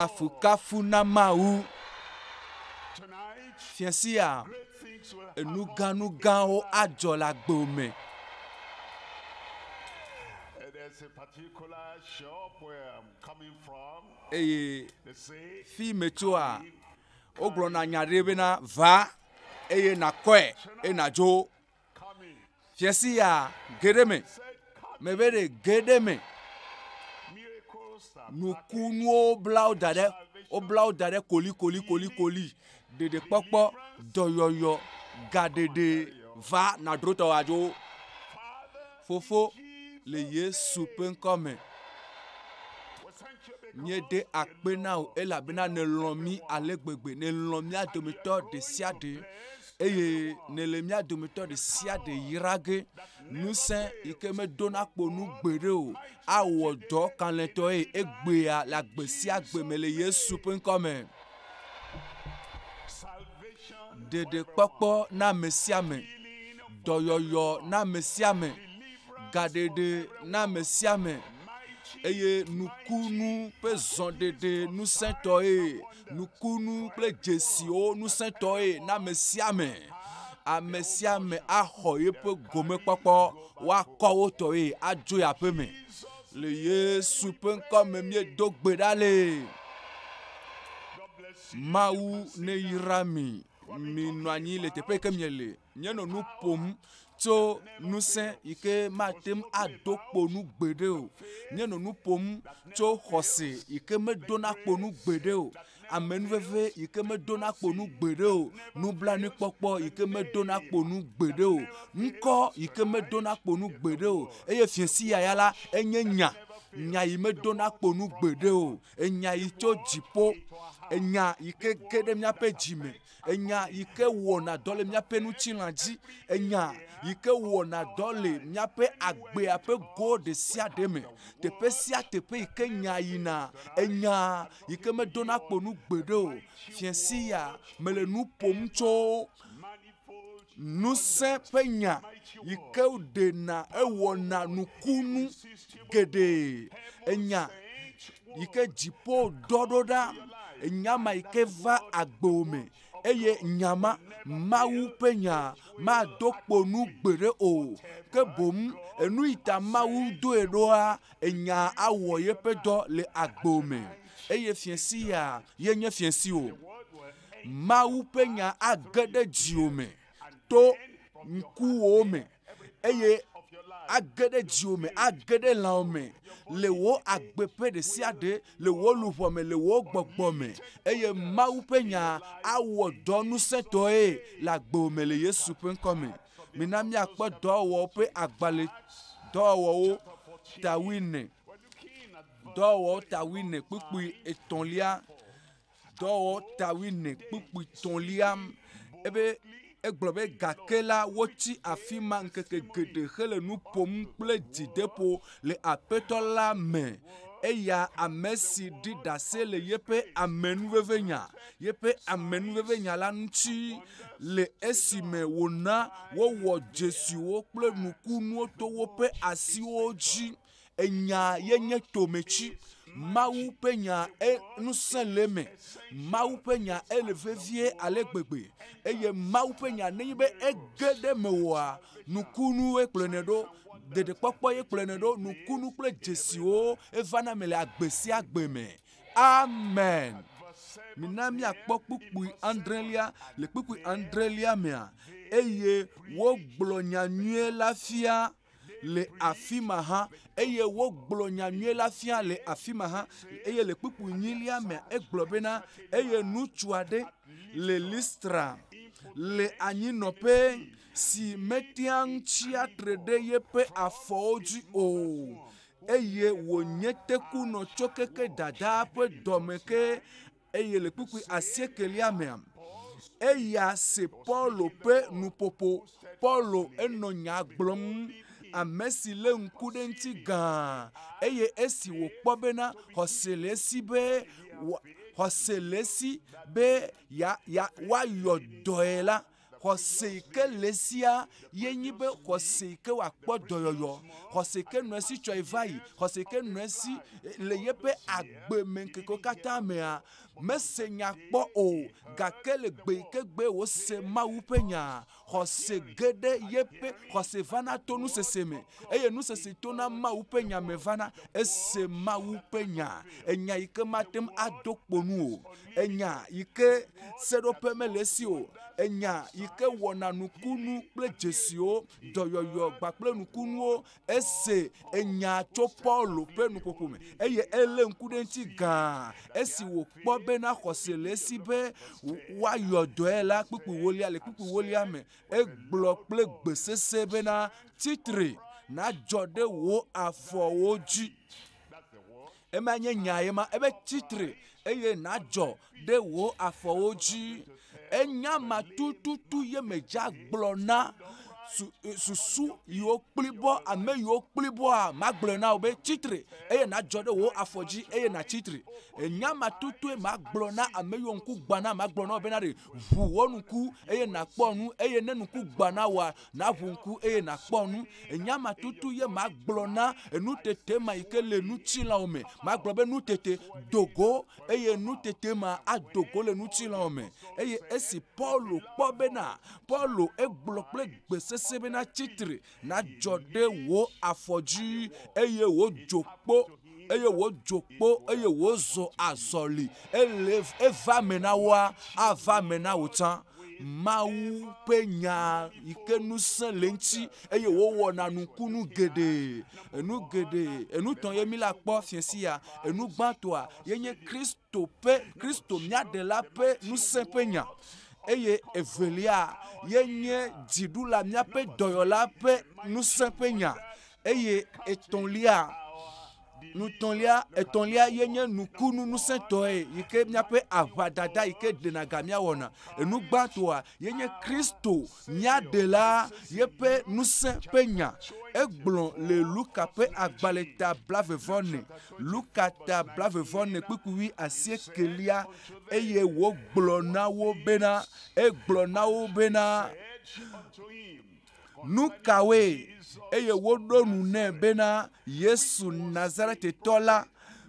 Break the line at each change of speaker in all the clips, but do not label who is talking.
Kafukafu na Mawu! Fiasia, enugãnugãwo adzɔ le agbo me.
Eye
fi metsoa, wogblɔna nya ɖe bena, va eye nàkɔe eye nàdzo. Fiasi ya geɖe me, me be ɖe geɖe me. Nukunuwo wobla wo da ɖe, wobla wo da ɖe kolikoli kolikoli. Ɖeɖekpɔkpɔ, dɔyɔyɔ, gaɖeɖe va nadrotɔwadzo. Fofo, le Yesu ƒe ŋkɔ me, míeɖe akpe na wò elabena nèlɔ̃ mí ale gbegbe. Nèlɔ̃ mía dometɔ ɖe sia ɖe eye nèle mía dometɔ ɖe sia ɖe yra ge. Ŋusẽ yi ke meɖona kpo nu gbeɖe o awɔ dɔ kalẽtɔe egbea le agbe sia gbe me le Yesu ƒe ŋkɔ me. ɖeɖekpɔkpɔ na ame sia ame, dɔyɔyɔ na ame sia ame, gaɖeɖe na ame sia ame eye nukunu ƒe zɔɖeɖe ŋusẽtɔe, nukunu kple dzesiwo ŋusẽtɔe na ame sia ame. Ame sia ame axɔ yeƒe gomekpɔkpɔ woakɔ wo tɔe adzo yi aƒeme. Le Yesu ƒe ŋkɔ me míedo gbe ɖa le Mawu neyra mi. Minɔ anyi le teƒe yi ke miele. Míenɔ nu ƒom tso ŋusẽ yi ke mate ŋu ado kpo nu gbeɖe o. Míenɔ nu ƒom tso xɔse yi ke meɖona kpo nu gbeɖe o. amenuveve yi ke medona kpo nu gbeɖe o, nublanuikpɔkpɔ yi ke medona kpo nu gbeɖe o, ŋkɔ yi ke medona kpo nu gbeɖe o, eye fiasiyaya la enye nya, nya yi medona kpo nu gbeɖe o, enya yi tso dziƒo, enya yi ke ge ɖe míaƒe dzi me, enya yi ke wɔna dɔ le míaƒe ŋutilã dzi, enya yi ke wɔna dɔ le míaƒe agbea ƒe go ɖe sia ɖe me. Teƒe sia teƒe yi ke nyaa yina, enyaa yi ke medona kpo nu gbeɖe o. Fia Siya, mele nu ƒom tso ŋusẽ ƒe nya yi ke ɖena ewɔna nukunu geɖe. Enya yi ke dziƒo dɔ ɖo ɖa, enya ma yi ke va agbo me eye nya ma, Mawu ƒe nya, mado kpo nu gbeɖe o. Ke boŋ enu yi ta Mawu doe ɖoa, Enyaa awɔ yeƒe dɔ le agbo me, eye fiẽ sia ye nye fiẽ siwo Mawu ƒe nya age ɖe dziwò me to ŋkuwò me, eye age ɖe dziwò me, age ɖe lãwò me, le wò agbe ƒe ɖe sia ɖe, le wò luʋɔ me, le wò gbɔgbɔ me, eye Mawu ƒe nya awɔ dɔ ŋusẽtɔe le agbo me le Yesu ƒe ŋkɔ me. Mina míakpɔ dɔwɔwɔwo ƒe agbalẽ, Dɔwɔwɔwo ta wuiene, Dɔwɔwɔwo ta wuiene kpukpui etɔ̃lia, Dɔwɔwɔwo ta wuiene kpukpui tɔ̃lia, ebe egblɔ be gake la wotsi afi ma ŋkeke geɖe hele nu ƒom kple dzideƒo le aƒetɔ la me eya ame si ɖi ɖase le yeƒe amenuvevinya Yeƒe amenuvevenya la ŋuti le esime wòna wowɔ dzesiwo kple nukunuwo to woƒe asiwo dzi. Enya ye nye tometi. Mawu ƒe nya e ŋusẽ le eme. Mawu ƒe nya ele vevie ale gbegbe eye Mawu ƒe nya nenye be ege ɖe eme oa, nukunue kplɔnɛ ɖo. Ɖeɖekpɔkpɔ ye kplɔnɛ ɖo. Nukunu kple dzesiwo evana eme le agbe sia agbe me. Amen. Mina míakpɔ kpukpui adrelia. Le kpukpui adrelia mea, eye wogblɔ nya nyuie la fia le afi ma hã eye wogblɔ nya nyuie la fia le afi ma hã eye le kpukpui nyilia mea egblɔ bena eye ŋutsu aɖe le listra le anyinɔƒe si metea ŋu tsia tre ɖe yeƒe afɔwo dzi o eye wònye tekunɔ tso keke dadaa ƒe dɔme ke, eye le kpukpui asiekelia mea, eya se Paulo ƒe nuƒoƒo. Paulo enɔ nya gblɔm, ame si lé ŋku ɖe eŋuti gãa, eye esi wòkpɔ bena xɔse le esi be xɔse le esi be ya ya woayɔ dɔe la, Xɔse yi ke le esia ye nyi be xɔse yi ke wòakpɔ dɔyɔyɔ, xɔse yi ke nɔ esi tsɔe va yi, xɔse yi ke nɔ esi le yeƒe agbemeŋkekewo katã mea. Mese nya kpɔ o, gake le gbe yi ke gbee wòse Mawu ƒe nyaa, xɔse ge ɖe yeƒe, xɔse vana to nusese me, eye nusese yi ke tona Mawu ƒe nya me vana. Ese Mawu ƒe nya, enya yi ke mate ŋu ado kpo nu o. enya yi ke seɖoƒe mele esi o, enya yi ke wɔna nukunu kple dzesiwo, dɔyɔyɔ kpakple nukunuwo. Ese enya tso Paulo ƒe nuƒoƒo me eye elé ŋku ɖe eŋuti gãa esi wòkpɔ bena xɔse le esi be woayɔ dɔe la kpukpuiwolia. Le kpukpuiwolia me egblɔ kple gbe sesẽ bena, Tsi tre, nadzɔ ɖe wò afɔwo dzi. Ema nye nya ye ma, ebe tsi tre eye nàdzɔ ɖe wò afɔwo dzi. Enya ma tututu ye medzea gblɔ na susu yiwo kpli bɔ, ame yiwo kpli bɔa, magblɔe na wò be tsi tre eye nàdzɔ ɖe wò afɔ dzi eye nàtsi tre. Enya ma tututue magblɔ na ame yiwo ŋku gbã na, magblɔ na wò bena ɖe ʋu wò ŋku eye nàkpɔ nu eye ne ŋku gbã na wòa, naʋu ŋku eye nakpɔ nu. Enye ama tutu ye magblɔ na enutete ma yi ke le ŋutilãwo me. Magblɔ be nutete do go eye nutete ma ado go le ŋutilãwo me. Eye esi Paulo kpɔ bena, Paulo egblɔ kple gbe sesẽ bena, Tsi tre, nadzɔ ɖe wò afɔ dzi eye wò dzo kpo. eye wòdzo kpo eye wòzɔ azɔli ele eva me na woa, ava me na wò tsã. Mawu ƒe nya yi ke ŋusẽ le eŋuti eye wòwɔna nukunu geɖe. Enu geɖe, enu tɔ ye mi la kpɔ fiesi ya. Enu gbãtɔa ye nye Kristo ƒe, Kristo mía ɖela ƒe ŋusẽ ƒe nya eye evelia ye nye dziɖula, míaƒe dɔyɔla ƒe ŋusẽ ƒe nya. Eye etɔ̃lia, nutɔ̃lia, etɔ̃lia ye nye nukunu ŋusẽtɔe yi ke míaƒe aʋadada yi ke ɖena ga míawɔna. Enu gbãtɔa ye nye Kristo, mía ɖela, yeƒe ŋusẽ ƒe nya. Egblɔ le Luka ƒe agbalẽ ta blavevɔne, Luka ta blavevɔne kpukpui wui asiekelia, eye wògblɔ na wo bena, egblɔ na wo bena, Nu kawoe? Eye woɖo nu nɛ bena Yesu Nazaretitɔ la,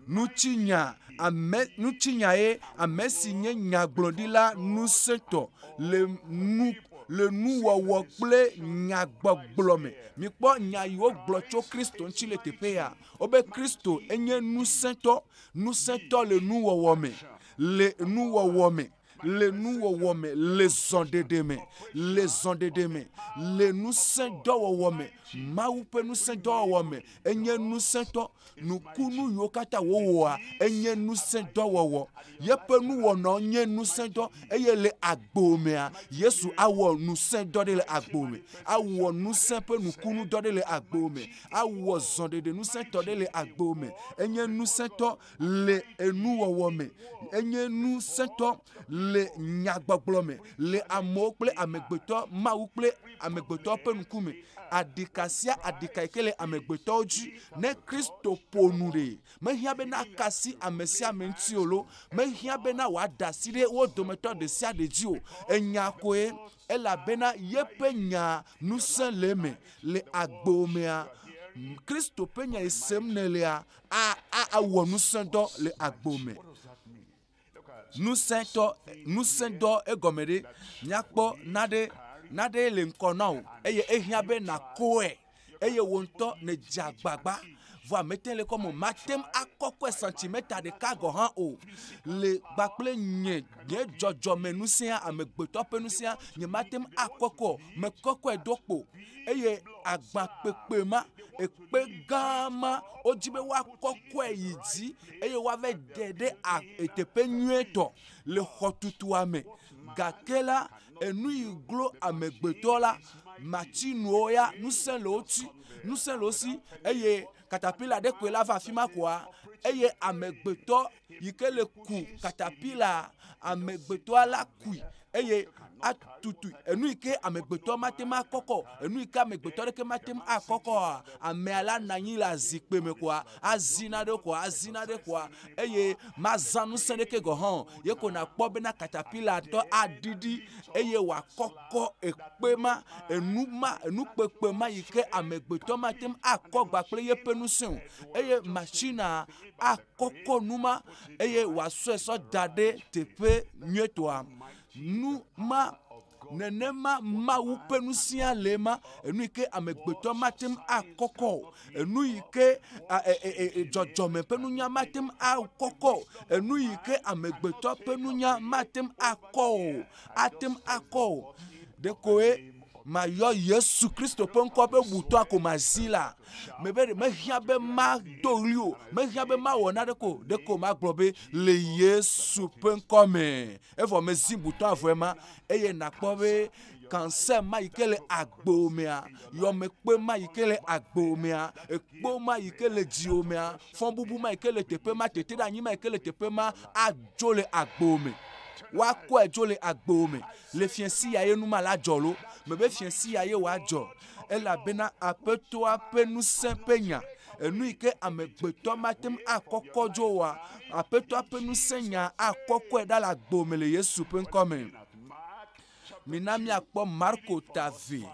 nutsinya ame nutsinyae ame si nye nyagblɔɖila ŋusẽtɔ le nu le nuwɔwɔ kple nyagbɔgblɔ me. Mikpɔ nya yi wogblɔ tso Kristo ŋuti le teƒea. Wobe Kristo enye ŋusẽtɔ, ŋusẽtɔ le nuwɔwɔ me, le nuwɔwɔ me. Le nuwɔwɔ me, le zɔɖeɖe me, le zɔɖeɖe me, le ŋusẽdɔwɔwɔ me, Mawu ƒe ŋusẽdɔwɔwɔ me, enye ŋusẽtɔ. Nukunu yiwo katã wòwɔa, enye ŋusẽdɔwɔwɔ. Yeƒe nuwɔnawo nye ŋusẽdɔ. Eye le agbo mea, Yesu awɔ ŋusẽdɔ ɖe le agbo me. Awɔ ŋusẽ ƒe nukunudɔ ɖe le agbo me. Awɔ zɔɖeɖe ŋusẽtɔ ɖe le agbo me. Enye ŋusẽtɔ. le enuwɔwɔ me, enye nu sẽtɔ le nyagbɔgblɔ me, le amewo kple amegbetɔ, Mawu kple amegbetɔ ƒe ŋkume. Aɖika sia aɖika yi ke le amegbetɔwo dzi, ne Kristo ƒo nu ɖe, mehiã be naka asi ame sia ame ŋuti o lo, mehiã bena wòaɖe asi ɖe wo dometɔ ɖe sia ɖe dzi o. Enya koe Elabena yeƒe nyaa ŋusẽ le eme. Le agbo mea, Kristo ƒe nyae sem nèlea, a, a, awɔ ŋusẽdɔ le agbo me. Ŋusẽtɔ, ŋusẽdɔ egɔme ɖe? Míakpɔ naɖe, naɖee le ŋkɔ na wò, eye ehiã be nàkɔe. eye wò ŋutɔ nèdze agbagba vɔ amete le kɔme mate ŋu akɔkɔe santimeta ɖeka gɔ̃ hã o. Le gba kple nye nye dzɔdzɔmeŋusẽa, amegbetɔ ƒe ŋusẽa, nyemate ŋu akɔkɔe o. Mekɔkɔe do kpo eye agbãkpekpe ma, ekpe gã ma, wodi be woakɔkɔe yi dzi eye woava de ɖe a teƒe nyuietɔ le xɔtutua me. Gake la, enu yi glo amegbetɔ la mati nuwo ya ŋusẽ le wo ti ŋusẽ le wo si eye katapila ɖe koe la va afi ma koa eye amegbetɔ yi ke le ku katapila amegbetɔa la kui eye atutu enu yi ke amegbetɔ mate ŋu akɔkɔ enu yi ke amegbetɔ ɖeke mate ŋu akɔkɔa amea la nɔ anyi le azikpui me koa Azi naɖe koa? Azi naɖe koa? Eye mazã ŋusẽ ɖeke gɔ̃ hã o. Ye ko nàkpɔ bena katapilatɔ aɖiɖi, eye wòakɔkɔ ekpe ma, enu ma, enukpekpe ma yi ke amegbetɔ mate ŋu akɔ agba kple yeƒe ŋusẽ o. Eye matsinaa akɔkɔ nu ma, eye wòasɔe sɔ da ɖe teƒe nyuietɔa. Nu ma Nenema Mawu ƒe nu sia lee ma, enu yi ke amegbetɔ mate ŋu akɔkɔ o, enu yi ke dzɔdzɔme ƒe nunya mate ŋu akɔkɔ o, enu yi ke amegbetɔ ƒe nunya mate ŋu akɔ o, ate ŋu akɔ o. Ɖekoe mayɔ Yesu Kristo ƒe ŋkɔ be butɔ ko mazi la, mebe ɖe mehiã be mado ɣli o, mehiã be mawɔ naneke o, ɖeko magblɔ be le Yesu ƒe ŋkɔ me Evɔ mezi butɔ avɔe ma, eye nàkpɔ be kansè ma yi ke le agbewò mea, yɔmekpe ma yi ke le agbewò mea, ekpo ma yi ke le dziwò mea, fɔbubu ma yi ke le teƒe ma, teteɖeanyi ma yi ke le teƒe ma adzo le agbewò me. Woakɔe dzo le agbewò me. Le fiẽsi ya ye nu ma la dzɔ lo? Mebe fiẽsi ya ye wòadzɔ. Elabena Aƒetɔa ƒe ŋusẽ ƒe nya, enu yi ke amegbetɔ mate ŋu akɔkɔ dzo oa, Aƒetɔa ƒe ŋusẽ nya akɔkɔe ɖa le agbo me le Yesu ƒe ŋkɔ me. Mina míakpɔ Marko ta ve.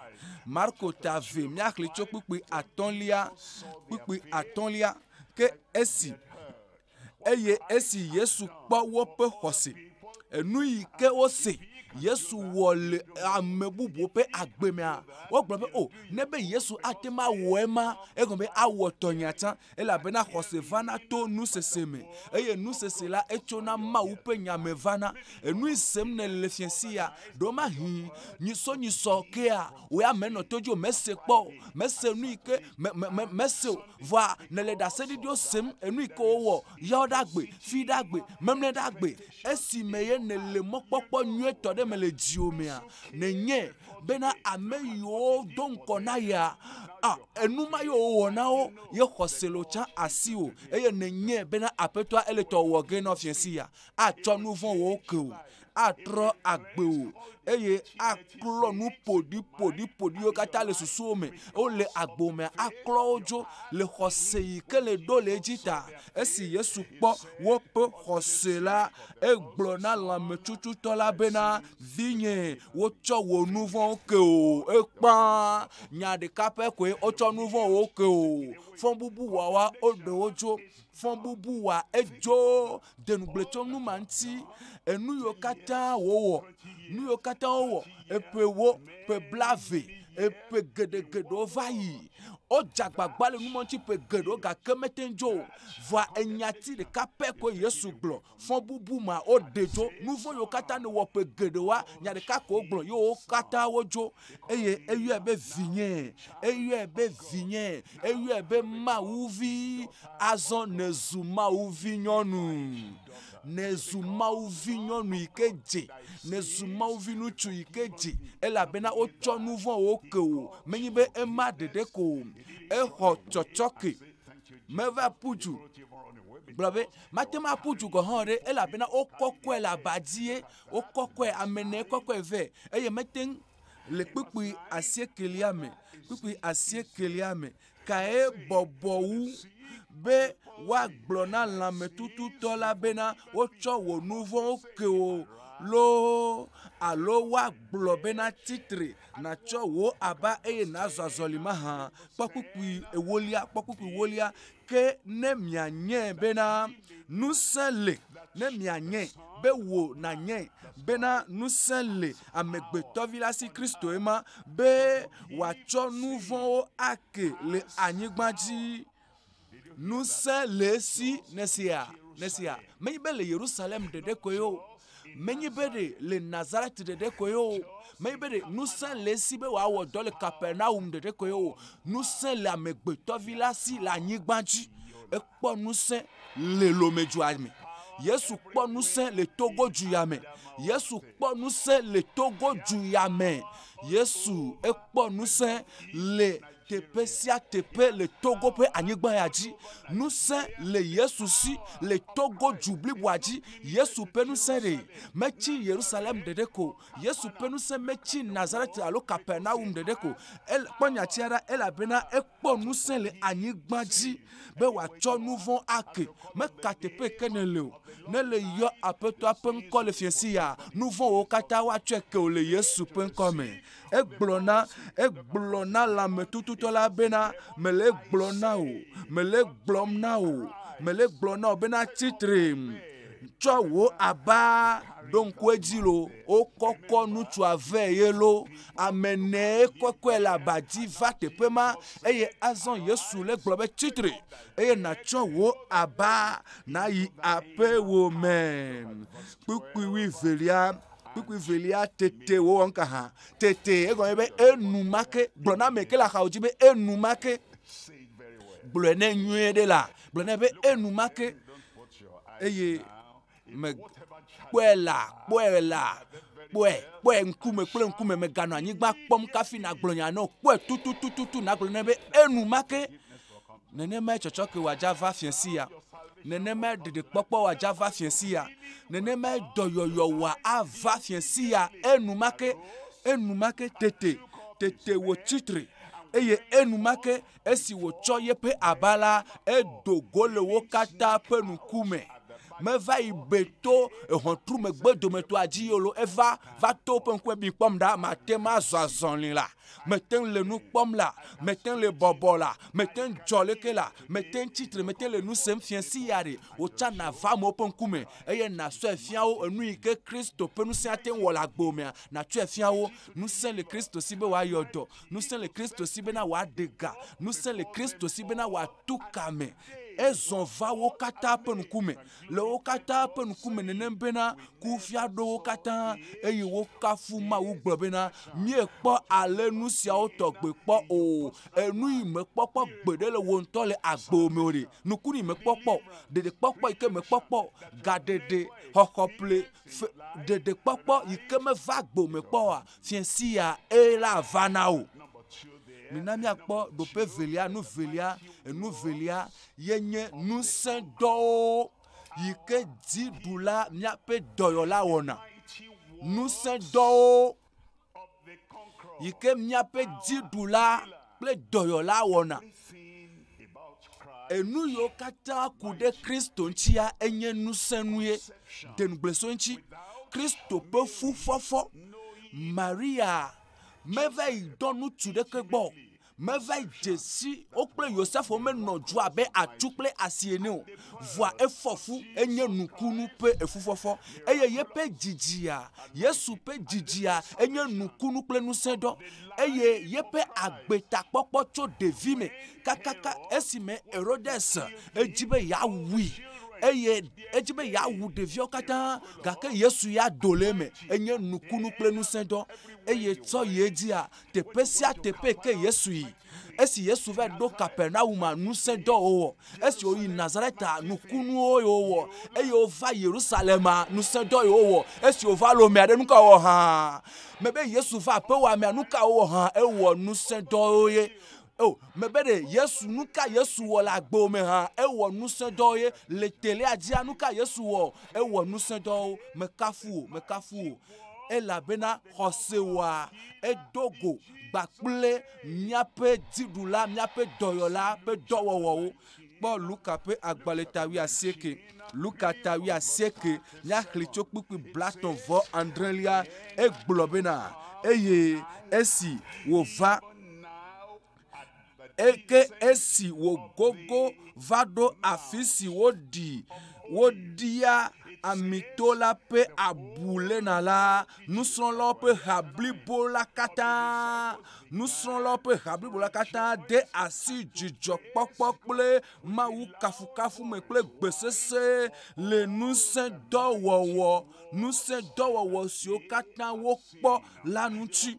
Marko ta ve, míaxli tso kpukpui atɔ̃lia, kpukpui atɔ̃lia, ke esi eye esi Yesu kpɔ woƒe xɔse, enu yi ke wose Yesu wɔ le ame bubuwo ƒe agbe mea, wogblɔ be, o, oh, ne be Yesu ate ŋu awɔ ema, egɔme be awɔ tɔnya tsã, elabena xɔse vana to nusese me, eye nusese la etsona Mawu ƒe nya me vana. Enui sem nèle fia sia, ɖo mahi nyisɔnyisɔ kea, wòya menɔ to dzi o, mese kpɔ o, mese nu yi ke, me, me, me, mese o. Vɔa nèle ɖaseɖiɖiwo sem, enui ke wowɔ, yɔ ɖe agbe, fui ɖe agbe, memlɛ ɖe agbe, esime ye nèle mɔkpɔkpɔ nyuietɔ ɖe me le dziwò mea? Nenye bena ame yiwo do ŋkɔ na yea, a, enu ma ye wòwɔ na wo, ye xɔse le wòtsa asiwò, eye nenye bena Aƒetɔa eletɔ wòwɔ ge na wò fiasia, atsɔ nuvɔ̃ wòwo ke wò. atrɔ agbewò eye aklɔ nu ƒoɖiƒoɖiƒoɖiwo katã le susuwo me. Wole agbo me aklɔ wo dzo le xɔse yi ke le ɖo le edzi ta. Esi Yesu kpɔ woƒe xɔse la, egblɔ na lãmetsutsutɔ la bena, Vinye, wotsɔ wò nu vɔ̃wo ke wò. Ekpɔa nya ɖeka pɛ koe, wotsɔ nu vɔ̃wo ke wò. Fɔbubuwɔwa woɖe wo dzo. Fɔbubuwɔa edzo. de ŋugble tso nu ma ŋuti. Enu yiwo katã wòwɔ, nu yiwo katã wòwɔ, eƒewo, ƒe blaeve, eƒe geɖe geɖewo va yi. Wodze agbagba le nu ma ŋuti ƒe geɖewo gake mete ŋu dzo o. Vɔa enyati ɖeka pɛ koe Yesu gblɔ. Fɔbubu ma woɖe dzo. Nu vɔ̃ yiwo katã nèwɔ ƒe geɖewoa, nya ɖeka ko wogblɔ ye wo katã wodzo. eye eyɔe be vinye, eyɔe be vinye, eyɔe be Mawu vi. Azɔ nèzu Mawu vi nyɔnu, nèzu Mawu vi nyɔnu yi ke dze, nèzu Mawu vi ŋutsu yi ke dze, elabena wotsɔ nu vɔ̃wo ke wò. Menye be ema ɖeɖe ko o, exɔ tsɔtsɔke, meva ƒu du gblɔ be mate ŋu aƒu du gɔ̃ hã o ɖe, elabena wokɔkɔe le aba dzie. Wokɔkɔe ame ene kɔkɔe vɛ eye mete ŋu le kpukpui asiekelia me. Kpukpui asiekelia me kae bɔbɔ wu be woagblɔ na lãmetututɔ la bena wotsɔ wò nu vɔ̃wo ke wò loo alo woagblɔ bena tsi tre nàtsɔ wò aba eye nàzɔ azɔli mahã? Kpɔ kpukpui ewolia. Kpɔ kpukpui ewolia. Ke ne mianyɛ bena ŋusẽ le, ne mianyɛ be wò nanyɛ bena ŋusẽ le Amegbetɔvi la si Kristoe ma, be wòatsɔ nu vɔ̃wo ake le anyigba dzi. Ŋusẽ le esi, nèsea? Nèsea? Menye be le Yerusalem ɖeɖe koe o, Menye be ɖe le Nazaret ɖeɖe koe o. Menye be ɖe ŋusẽ le esi be wòawɔ dɔ le Kapernaum ɖeɖe koe o. Ŋusẽ le amegbetɔvi la si le anyigba dzi. Ekpɔ ŋusẽ le Lomedzua me. Yesu kpɔ ŋusẽ le Togo dzuya me. Yesu kpɔ ŋusẽ le Togo dzuya me. Yesu ekpɔ ŋusẽ le Teƒe sia teƒe le Togo ƒe anyigba ya dzi, ŋusẽ le Yesu si. Le Togo du bliboa dzi, Yesu ƒe ŋusẽ li. Metsi Yerusalem ɖeɖe ko. Yesu ƒe ŋusẽ metsi Nazaret alo Kapernaum ɖeɖe ko. Ele, kpɔ nyatia ɖa, elabena ekpɔ ŋusẽ le anyigba dzi be wòatsɔ nu vɔ̃ ake. Meka teƒe ke nèle o, ne le yɔ Aƒetɔa ƒe ŋkɔ le fiẽsiyaa, nu vɔ̃ wòwo katã woatsɔe ke wò le Yesu ƒe ŋkɔ me. Egblɔ na, egblɔ na lãmetututɔ la bena, mele egblɔ na wò, mele egblɔm na wò, mele egblɔ na wò bena tsi tre, tsɔ wò aba, ɖo ŋku edzi lo, wokɔkɔ ŋutsua vɛ ye lo, ame ne kɔkɔe le aba dzi va teƒe ma, eye azɔ Yesu le gblɔ be tsi tre, eye nàtsɔ wò aba nàyi aƒewò me. Kpukpui wuivelia Kpukpui velia tete wòwɔ nuka hã? Tete egɔme be enumake gblɔ na ame ke le axawo dzi be enumake gblɔe ne nyuie ɖe la gblɔ na be enumake eye me kpɔe la kpɔe la kpɔe kpɔe ŋkume kple ŋkume meganɔ anyigba kpɔm kafi nagblɔ nya nɔ kpɔe tututututu nagblɔ na be enumake Nenemae tsɔtsɔke wòadza va fia si ya. Nenemae ɖeɖekpɔkpɔ wòadza va fia si ya. Nenemae dɔyɔyɔ wòa ava fia si ya enumake, enumake tete, tete wòtsi tre, eye enumake esi wòtsɔ yeƒe aba la, edo go le wo katã ƒe ŋku me. Meva yi be to ʋɔtru megbe dometɔa dzi yolo, eva va to woƒe ŋkume be kpɔm ɖa, mate ŋu azɔ azɔli la. Mete ŋu le nu kpɔm la, mete ŋu le bɔbɔ la, mete ŋu dzɔ leke la, mete ŋu tsi tre, mete ŋu le nu sem fia si ya ɖe wotsã nàva amewo ƒe ŋkume eye nàsɔe fia wo enu yi ke Kristo ƒe ŋusẽ ate ŋu wɔ le agbewoomea, nàtsɔe afia wo. Ŋusẽ le Kristo si be wòayɔ dɔ. Ŋusẽ le Kristo si bena wòaɖe ga. Ŋusẽ le Kristo si bena wòatu ka me. Ezɔ va wo katã ƒe ŋkume. le wo katã ƒe ŋkume nenem bena kufia ɖo wo katã eye wokafu Mawu gblɔ bena, Míekpɔ ale nu siawo tɔgbe kpɔ o. Enu yi mekpɔ kpɔ gbeɖe le wò ŋutɔ le agbe me o ɖe, nukunu yi mekpɔ kpɔ, ɖeɖekpɔkpɔ yi ke mekpɔ kpɔ, gaɖeɖe, xɔxɔƒle, fe, ɖeɖekpɔkpɔ yi ke meva agbe me kpɔ oa, fiẽ sia ee la ava na wò. Mina míakpɔ ɖoƒe evelia, nu evelia, enu evelia, yenye ŋusẽ dɔwo yi ke dziɖula míaƒe dɔyɔla wɔna. Ŋusẽ dɔwo yi ke míaƒe dziɖula kple dɔyɔla wɔna. Enu yiwo katã ku ɖe Kristo ŋutia enye ŋusẽ nue. De ŋugble so eŋuti. Kristo ƒe fufɔfɔ. Maria meva yi dɔ ŋutsu ɖeke gbɔ Meva dze si wo kple Yosefo menɔ dzo abe atu kple asi ene o. Vɔa efɔ fu, enye nukunu ƒe efufɔfɔ, eye yeƒe dzi dzia. Yesu ƒe dzi dzia, enye nukunu kple ŋusẽɖɔ, eye yeƒe agbetakpɔkpɔ tso ɖevime kakaka esime Herodes edzi be yeawui, eye edzi be yeawu ɖeviawo katã, gake Yesu ya do le eme, enye nukunu kple ŋusẽɖɔ, eye tsɔ yi edzia, Teƒe sia teƒe yi ke Yesu yi. Esi Yesu va ɖo Kapernauma, ŋusẽ dɔ wòwɔ. Esi wòyi Nazareta, nukunuwo yi wòwɔ. Eye wòva Yerusalema, ŋusẽ dɔ yi wòwɔ. Esi wòva Lomea ɖe, nu ka wòwɔ hã? Mebe Yesu va aƒewòa mea, nu ka wòwɔ hã? Ewɔ ŋusẽ dɔwo ye. O, mebe ɖe Yesu, nu ka Yesu wɔ le agbewo me hã? Ewɔ ŋusẽ dɔwo ye. Le telea dzia, nu ka Yesu wɔ? Ewɔ ŋusẽ dɔwo. Mekafu wò, mekafu wò. elabena xɔse wɔa edo go gba kple míaƒe dziɖula, míaƒe dɔyɔla ƒe dɔwɔwɔwo. Kpɔ Luka ƒe agbalẽ ta wuiasieke. Luka ta wuiasieke, míaxlẽe tso kpukpui blatɔ̃ vɔ adrelia. Egblɔ bena, Eye esi wòva. eke esi wògogo va ɖo afi si woɖi woɖia amito la ƒe abu lena la, nusrɔ̃lawo ƒe ha blibo la katã, nusrɔ̃lawo ƒe ha blibo la katã de asi dzidzɔkpɔkpɔ kple mawukafukafu me kple gbe sesẽ le ŋusẽ dɔ wɔwɔ, ŋusẽ dɔ wɔwɔ siwo katã wokpɔ la ŋuti.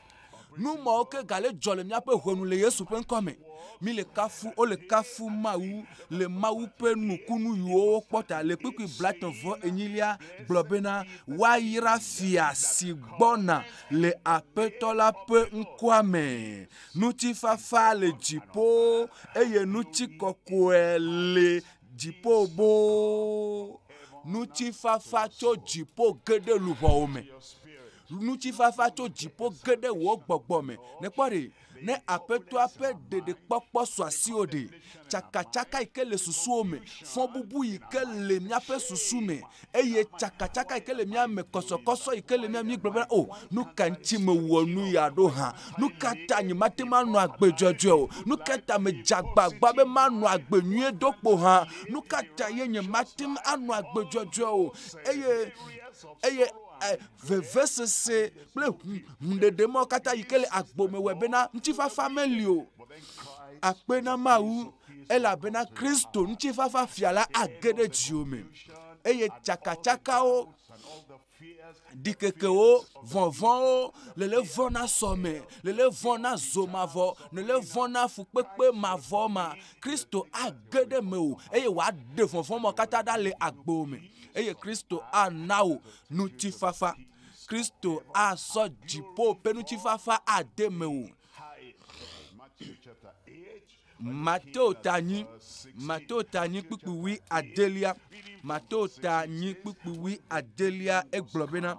Nu mawo ke gale dzɔ le míaƒe ʋe nu le Yesu ƒe ŋkɔ me. Mi le kafu, wo le kafu Mawu le Mawu ƒe nukunu yiwo wokpɔ ta. Le kpukpui blatɔ vɔ enyilia gblɔ bena, woayra fia si gbɔna le Aƒetɔ la ƒe ŋkɔa me. Ŋutifafa le dziƒo eye ŋuti kɔkɔe le dziƒo boo. Ŋutifafa tso dziƒo ge ɖe luʋɔwo me. Ŋutifafa tso dziƒo ge ɖe wò gbɔgbɔ me. Nekpɔ ɖe, ne Aƒetɔa ƒe ɖeɖekpɔkpɔ su asiwò ɖe, tsakatsaka yi ke le susuwo me, fɔbubu yi ke le míaƒe susu me, eye tsakatsaka yi ke le mía me, kɔsɔkɔsɔ yi ke le mía me míegblɔ bena, O, nu ka ŋuti mewɔ nu ya ɖo hã? Nu ka ta nyemate ŋu anɔ agbe dzɔdzɔe o? Nu ka ta medze agbagba be manɔ agbe nyuie do kpo hã? Nu ka ta ye nyemate ŋu anɔ agbe dzɔdzɔe o? Eye, eye. Eh, vevesese kple hũɖeɖe mawo katã yi ke le agbo me wɔe bena ŋutifafa meli o. Akpe na Mawu elabena Kristo ŋutifafa fia la age ɖe dziwo me eye tsakatsakawo ɖikekewo vɔvɔwo lele vɔ na sɔme lele vɔ na zo mavɔ lele vɔ na fukpekpe mavɔ ma Kristo age ɖe mewò eye wòaɖe vɔvɔ̃ ma katã ɖa le agbo me eye Kristo ana wò ŋutifafa. Kristo asɔ dziƒo ƒe ŋutifafa ade mewò. Mateo ta nyi Mateo ta nyi kpukpuwi adelia Mateo ta nyi kpukpuwi adelia egblɔ bena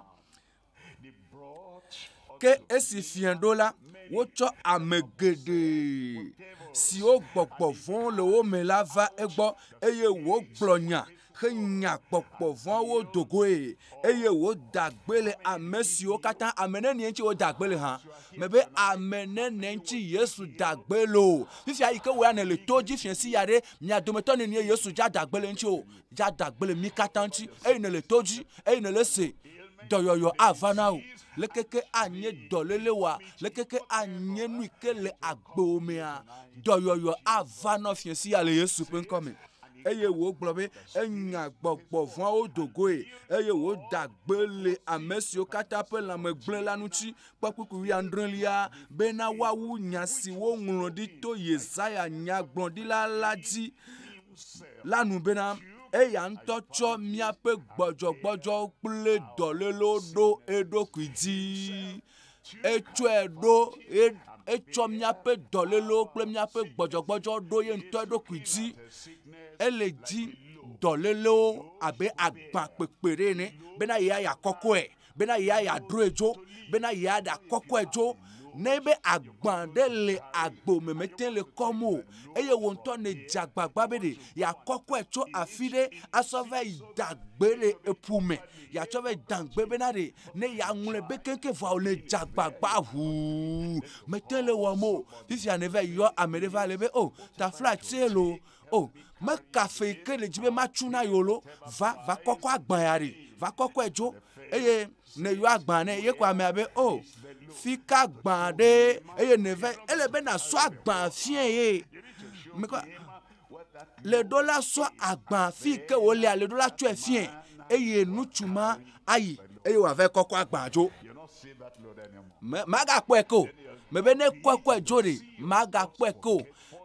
Ke esi fiẽ ɖo la, wotsɔ ame geɖe siwo gbɔgbɔ vɔ̃ le wo me la va egbɔ, eye wògblɔ nya henya gbɔgbɔ vɔ̃awo do goe, eye wòda gbe le ame siwo katã, ame nenie ŋuti wòda gbe le hã? Mebe ame nenie ŋuti Yesu da gbe le o. Fifia yi ke wò ya nèle to dzi fiẽ si ya ɖe, mia dometɔ nenie Yesu dza da gbe le eŋuti o? dze adagbe le mí katã ŋuti eye nèle to dzi eye nèle ese dɔyɔyɔ ava na wò. Lekeke anye dɔléle wa, lekeke anye nu ke le agbewò mea, dɔyɔyɔ ava nɔ fiẽ sia le Yesu ƒe ŋkɔ me. Eye wògblɔ be enya gbɔgbɔ vɔ̃awo do goe eye wòda gbe le ame siwo katã ƒe lãme gblẽ la ŋuti, kpɔkpukpui wuiadrelia, bena woawu nya si woŋlɔ ɖi to Yesaya nyagblɔɖila la dzi. la nu bena eya ŋutɔ tsɔ míaƒe gbɔdzɔgbɔdzɔ kple dɔlélo ɖo eɖokui dzi. Etsɔe ɖo etsɔ míaƒe dɔlélo kple míaƒe gbɔdzɔgbɔdzɔ ɖo ye ŋutɔ eɖokui dzi. Ele dzi dɔlélewo abe agbakpekpe ɖe ene bena yeya yeakɔkɔe. Bena ya ya droe djo. Bena ya ɖa kɔkɔe djo. Nɛ be agba ɖe le agbo me me te le kɔm o. Eye wo ŋtɔ nɛ dze agbagba be ɖe ya kɔkɔe tso afi ɖe asɔ va yi da gbe le eƒu me. Ya tsɔ va yi da gbe bena ɖe ne ya ŋlɔe be keŋkeŋ vɔa o nɛ dze agbagba ʋuu me te le wɔm o. Fifia ne va yi yɔ ame ɖe va le be o taflatse lo O, meka fe yi ke nèdzi be matsu na yewo lo, va, va kɔkɔ agbã ya ɖi, va kɔkɔe dzo. Eye ne yɔ agbã nɛ, ye ko amea be, o, fi ka gbã ɖe, eye nève, ele be nàsɔ agbã fiɛ ye. Mekɔ, le ɖo la sɔ agbã fi ke wòlea, le ɖo la tsɔe fiɛ, eye nutsu ma ayi, eye wòava kɔkɔ agbã dzo. Magakpɔe ke o. Mebe ne kɔkɔe dzo ɖi, magakpɔe ke o.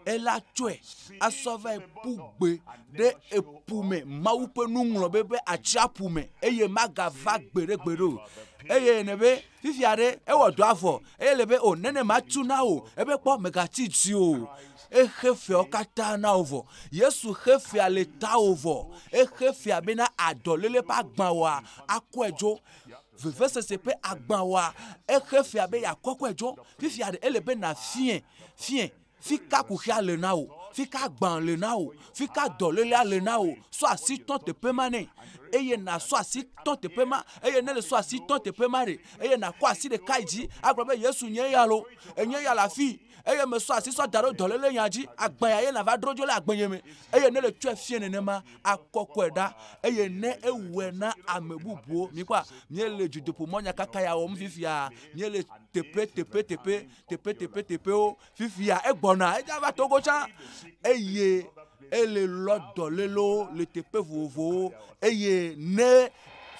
ela tsɔe asɔ va yi ƒu gbe ɖe eƒu me Mawu ƒe nuŋlɔbe ƒe atsiaƒu me eye magava gbeɖegbeɖe o. Eye ne be fifia ɖe ewɔ dɔa vɔ eye le be o nene matu na o ebe kpɔ megatsi dzi o. Exe feawo katã na wo vɔ. Yesu xe fea le tawò vɔ. Exe fea bena adɔlele ƒe agbawoa akɔe dzo. Vevesese ƒe agba wɔa exe fia be yeakɔkɔe tsɔ. Fifia ɖe ele be nàfiẽ, fiẽ, fi ka kuxia le na wò, fi ka gbã le na wò, fi ka dɔlélea le na wò. Sɔ asi tɔ teƒe ma nɛ, eye nàsɔ asi tɔ teƒe ma. Eye ne nèsɔ asi tɔ teƒe ma ɖe, eye nàkɔ asi ɖeka yi dzi agblɔ be, Yesu, nye ya loo, enye ya le afii. eye mesɔ asi sɔ da ɖo dɔléle nya dzi agbã ya ye nava dro dzo le agbenye me eye ne le tsɔe fie nenema akɔkɔe ɖa eye ne ewɔe na ame bubuwo mi kpɔa mie le dzodoƒo mɔ nya kaka ya wɔm fifia mie le teƒe teƒe teƒe teƒe teƒe teƒewo fifia egbɔna edza va togo tsã eye ele lɔ dɔlélewo le teƒe vovovowo eye ne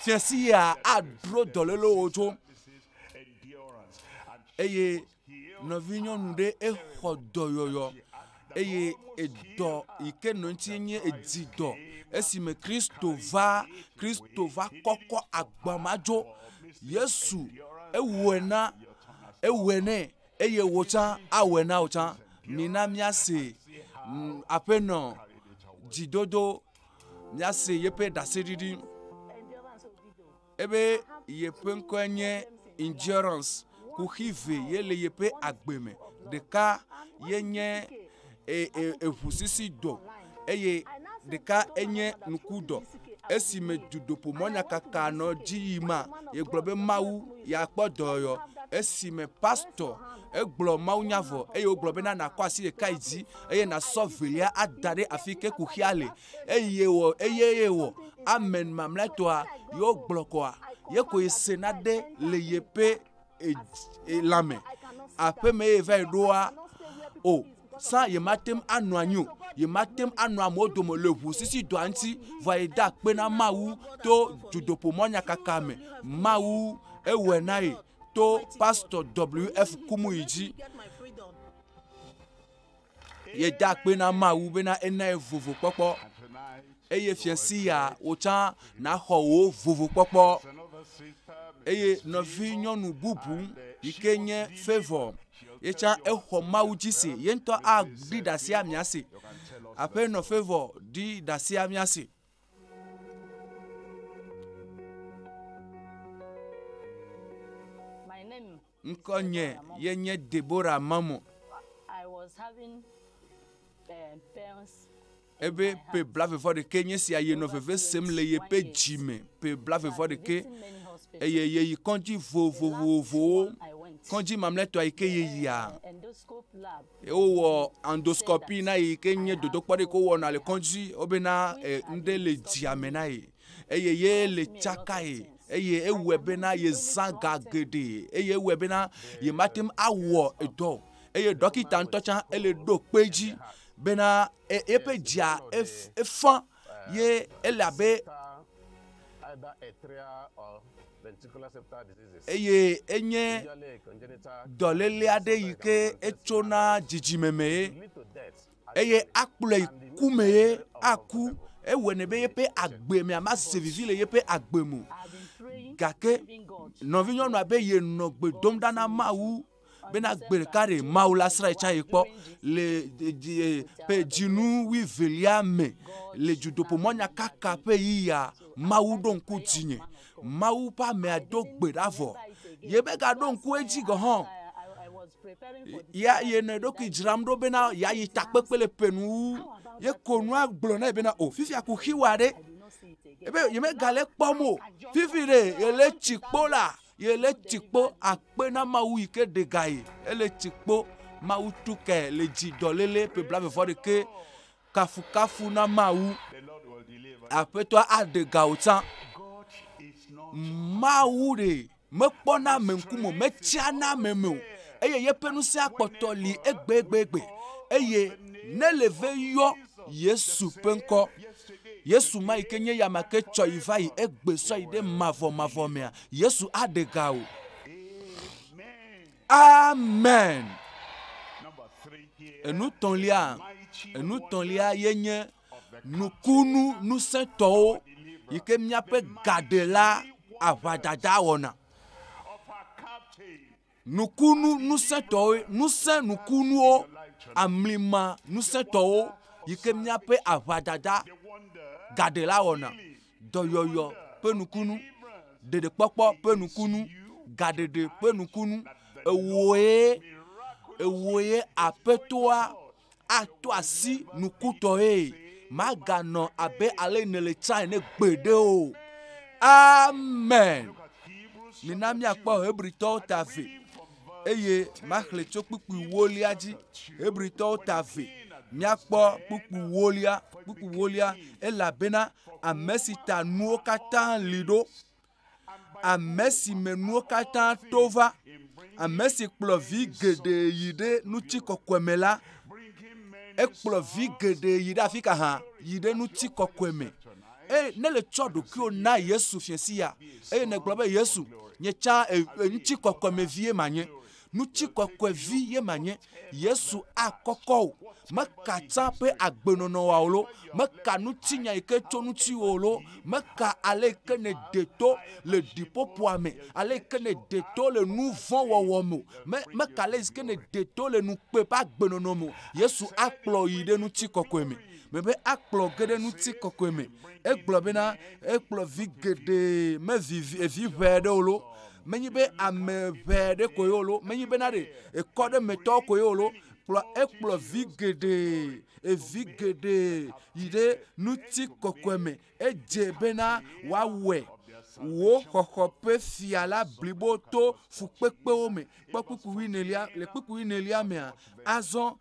fiasi ya adro dɔlélewo dzo eye Nɔvinyɔnu ɖe exɔ dɔyɔyɔ eye edɔ yi ke nɔ eŋuti nye dzidɔ esime Kristo va, Kristo va kɔkɔ agba ma dzo. Yesu ewɔe na, ewɔe nɛ eye wò tsã awɔe na wò tsã. Mina míase Aƒenɔ dzidodo, míase yeƒe ɖaseɖiɖi. Ebe yeƒe ŋkɔe nye Endurance kuxi ve ye le yeƒe agbe me. Ɖeka ye nye eŋusisidɔ eye ɖeka enye ŋkudɔ. Esi me dudoƒomɔ nyakaka nɔ dzi yi ma ye gblɔ be Mawu ya kpɔ dɔ yɔ. Esi me pastɔ egblɔ Mawu nya vɔ eye wogblɔ be na nakɔ asi ɖeka yi dzi eye nasɔ velia ada ɖe afike kuxia le. eye wɔ eye ye wɔ amen mamlɛtɔa yewo gblɔkɔa ye koe sena ɖe le yeƒe lãme aƒeme ye va yi ɖoa o sa yemate ŋu anɔ anyi o yemate ŋu anɔ amewo dome le ʋu sisi dɔa ŋuti va yi de akpe na mawu to dzodoƒo mɔnyakaka me mawu ewɔe na ye to pastor wf kumuyi dzi Yeda akpe na Mawu bena enae vovo kpɔkpɔ. Eye fia si ya wòtsã naxɔ wò vovo kpɔkpɔ. Eye nɔvi nyɔnu bubu yi ke nye Favor ye tsã exɔ Mawu dzi si ye ŋutɔ aɖi ɖasia mia si. Aƒenɔ Favor ɖi ɖasia mia si. Ŋkɔnye ye nye Deborah Mamo. Ebe ƒe blavevɔɖekɛ nye sia yenɔ veve sem le yeƒe dzi me, ƒe blavevɔɖekɛ, eye yeyi kɔdzi vovovowo, kɔdzi mamlɛtɔa yi ke yeyia. Wowɔ endoscopy na ye yi ke nye dodokpɔ ɖe ko wɔna le kɔdzi wobena e, ŋɖe le dzia me na ye. eye ye le tsakae eye ewɔe bena yezã ga geɖe eye ewɔe bena yemate ŋu awɔ edɔ o eye ɖɔkita ŋutɔ tsã ele ɖo kpe dzi bena e, eƒe dzia efã ye ele abe eye enye dɔléle aɖe yi ke etsona dzidzime mee eye akplɔe yi ku mee aku, ewɔnɛ be yeƒe agbe mea ma se vivi le yeƒe agbe me o. Gake nɔvinyɔnua be ye nɔ gbe dom ɖa na Mawu be na gbe ɖeka ɖe Mawu la srã ye tsã ye kpɔ le ɖeɖi ƒe dzinu wui velia me le dzodoƒe mɔnyakaka ƒe ɣi ya. Mawu ɖo ŋku dzinye Mawu ƒe amea do gbe ɖa vɔ. Yemegaɖo ŋku edzi gɔ hã. Ya yenɔ eɖokui dzram ɖo bena yeayi takpekpe le ƒe nu wu. Yeko nua gblɔ nɛ bena o fifia kuxi wa ɖe. Ebe yemegale kpɔm o. Fifi ɖe yele tsikpo la yele tsikpo akpe na Mawu yi ke ɖe ga ye. Ele tsikpo Mawu tu kae le dzi dɔléle ƒe blaeve vɔ ɖekɛ. Kafukafu na Mawu. Aƒetɔa aɖe ga wò tsã. Mawu ɖe mekpɔna ame ŋkume o, metsiana ame me o eye yeƒe ŋusẽ akpɔtɔ li egbegbegbe eye ne le ve yɔ Yesu ƒe ŋkɔ. Yesu ma yi ke nye ya ma ke tsɔ yi va yi egbe sɔ yi ɖe mavɔmavɔ mea, Yesu aɖe ga wò. Amen! Enutɔ̃lia, enutɔ̃lia ye nye nukunu ŋusẽtɔwo yi ke míaƒe gaɖela aʋadada wɔna. Nukunu ŋusẽtɔwo, ŋusẽ nukunuwo, amlima ŋusẽtɔwo yi ke míaƒe aʋadada gaɖela wɔna. dɔyɔyɔ ƒe nukunu, ɖeɖekpɔkpɔ ƒe nukunu, gaɖeɖe ƒe nukunu. Ewòe, ewòe aƒetoa ato asi nukutɔe. Maganɔ abe ale nèle tsã ene gbeɖe o. Amen.
Mina míakpɔ
Hebritɔwo ta ve. eye maxlẽ tso kpukpui wolia dzi. Hebritɔwo ta ve. Míakpɔ kpukpui wolia, kpukpui wolia, elabena ame si ta nuwo katã li ɖo, ame si me nuwo katã to va, ame si kplɔ vi geɖe yi ɖe ŋutikɔkɔe me la, ekplɔ vi geɖe yi ɖe afi ka hã? Yi ɖe ŋutikɔkɔe me. eye ne le tsɔ ɖokuiwo na Yesu fiasia, eye negblɔ be Yesu, nye tsã ŋuti kɔkɔe me vie ma nye, ŋuti kɔkɔe vi ye ma nye, Yesu a kɔkɔ o, me ka tsã ƒe agbenɔnɔ wa o lo, me ka ŋuti nya yi ke tso ŋuti o lo, me ka ale yi ke ne de to le ɖiƒoƒoa me, ale yi ke ne de to le nu vɔ̃ wɔwɔ me, me, me ka ale yi ke ne de to le ŋukpe ƒe agbenɔnɔ me, Yesu a kplɔ yi ɖe ŋuti kɔkɔe me. mebe akplɔ ge ɖe ŋutikɔkɔe me. Egblɔ bena ekplɔ vi geɖe me vi vi ʋɛ aɖewo lo. Menye be ame ʋɛ aɖe koe wo lo. Menye bena ɖe ekɔ ɖe me tɔwo koe wo lo. Kplɔ ekplɔ vi geɖe evi geɖe yi ɖe ŋutikɔkɔe me Edze bena wòawɔe. Wò xɔxɔ ƒe fia la blibo to fukpekpewo me. Kpɔ kpukpu wuienelia. Le kpukpu wuienelia mea, azɔ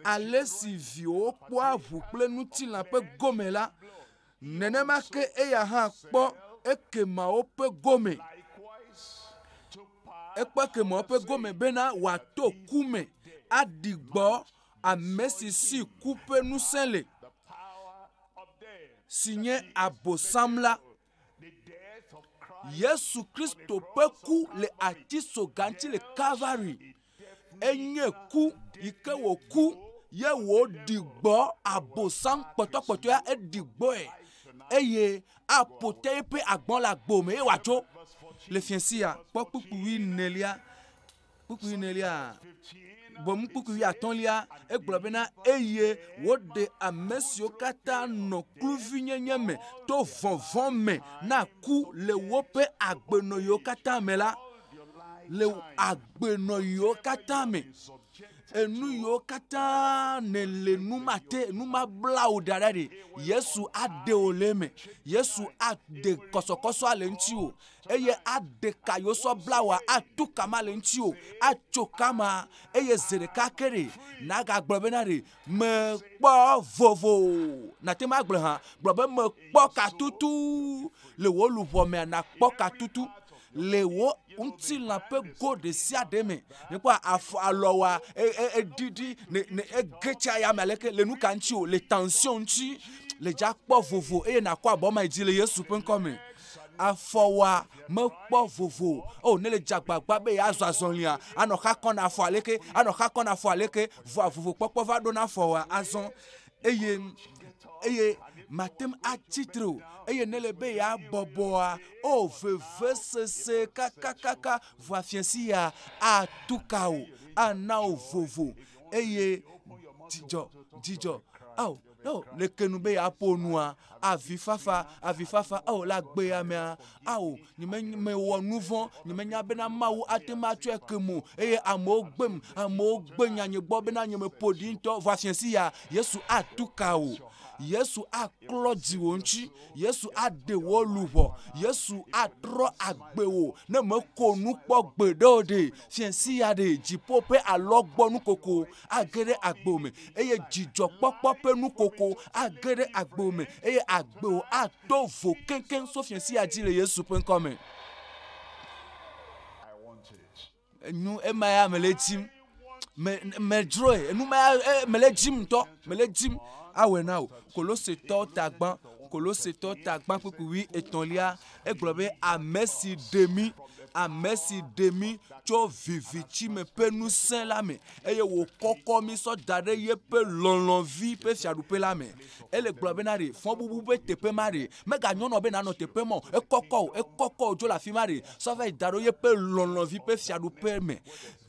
alesi viwòwo kpɔa ʋu kple ŋutilã ƒe gome la, nenema ke eya hã kpɔ ekemawo ƒe gome. Ekpɔ ekemawo ƒe gome bena wòato ku me aɖi gbɔ Ame si si ku ƒe ŋusẽ le, si nye Abosam la. Yesu Kristo ƒe ku le atisoga ŋuti le Kalvari. Enye ku yi ke wòku ye wòɖi gbɔ Abosam kpɔtɔkpɔtɔea, eɖi gbɔe eye aƒo te eƒe agbɔ̃ le agbo me eye wòatso le fiasia. Kpɔ kpukpui wuienelia. kpukpui nelia, boŋ kpukpui wuiatɔ̃lia, egblɔ bena, eye woɖe ame siwo katã nɔ kluvinyenye me to vɔvɔ̃ me na ku le woƒe agbenɔɣiwo katã me la, le agbenɔɣiwo katã me, enu yiwo katã nèle nu mate, nu mabla wò ɖa ɖa ɖe, Yesu aɖe wò le eme, Yesu aɖe kɔsɔkɔsɔa le ŋutiwò, eye aɖe ka yewo sɔ bla wòa ato kama le ŋuti o atso kama eye zi ɖeka ke ɖe nagagblɔ bena ɖe mekpɔ vovo nate ŋu agblɔ hã gblɔ be mekpɔ katutu le wò luʋɔ mea nakpɔ katutu le wò ŋutilã ƒe go ɖe sia ɖe me nekpɔ afɔ alɔ wa eɖiɖi ne ne ege tsa ya me aleke le nu ka ŋuti o le tension ŋuti le dza kpɔ vovo eye nakɔ abɔ ma yi dzi le Yesu ƒe ŋkɔ me. afɔwɔa mekpɔ vovo o ne le dze agbagba be yeazɔ azɔlia anɔ xa kɔ na afɔ aleke anɔ xa kɔ na afɔ aleke vɔa vovo kpɔkpɔ va ɖo na afɔwɔa azɔ eye eye mate ŋu atsi tre o eye ne le be yeabɔbɔa o vevesese kakakaka vɔa fiasi ya atu ka o ana wò vovo eye dzidzɔ dzidzɔ ao. Oh, leke nu be yeaƒo nua, avifafa, avifafa, oh, la gbe ya mea, ao, nyemewɔ nu vɔ̃, nyemenya bena Mawu ate ŋu atsɔe ke mo, eye amewo gbem, amewo gbe nya nye gbɔ bena nye meƒo ɖi ŋutɔ, vɔ afiãsi ya, Yesu atu ka o. Yesu aklɔ dziwò ŋuti, Yesu aɖe wò luʋɔ, Yesu atrɔ agbe wò, ne meko nu kpɔ gbe ɖe o ɖe, fiãsi ya ɖe, dziƒo ƒe alɔgbɔnu koko, age ɖe agbo me eye dzidzɔkpɔkpɔ ƒe nukoko age ɖe agbo me eye agbeo ato vo keŋkeŋ so fia sia dzi le Yesu ƒe ŋkɔ me. Enyo ema ya mele dzim. Me medzroe. Enu ma ya mele dzim ŋutɔ. Mele dzim awɔe na wò. Kolosetɔ tagba Kolosetɔ tagba kpukpui etɔ̃lia Egblɔ be, Ame si ɖe mí, ame si ɖe mí tso viviti me ƒe ŋusẽ la me, eye wòkɔkɔ mí sɔ da ɖe yeƒe lɔlɔ̃vi ƒe fiaɖuƒe la me. Ele gblɔ be na ɖe, fɔbubu ƒe teƒe ma ɖe, meganyɔnɔ be nànɔ teƒe ma o, ekɔkɔ o, ekɔkɔ o, dzo le afi ma ɖe, sɔ va yi da ɖo yeƒe lɔlɔ̃vi ƒe fiaɖuƒe me.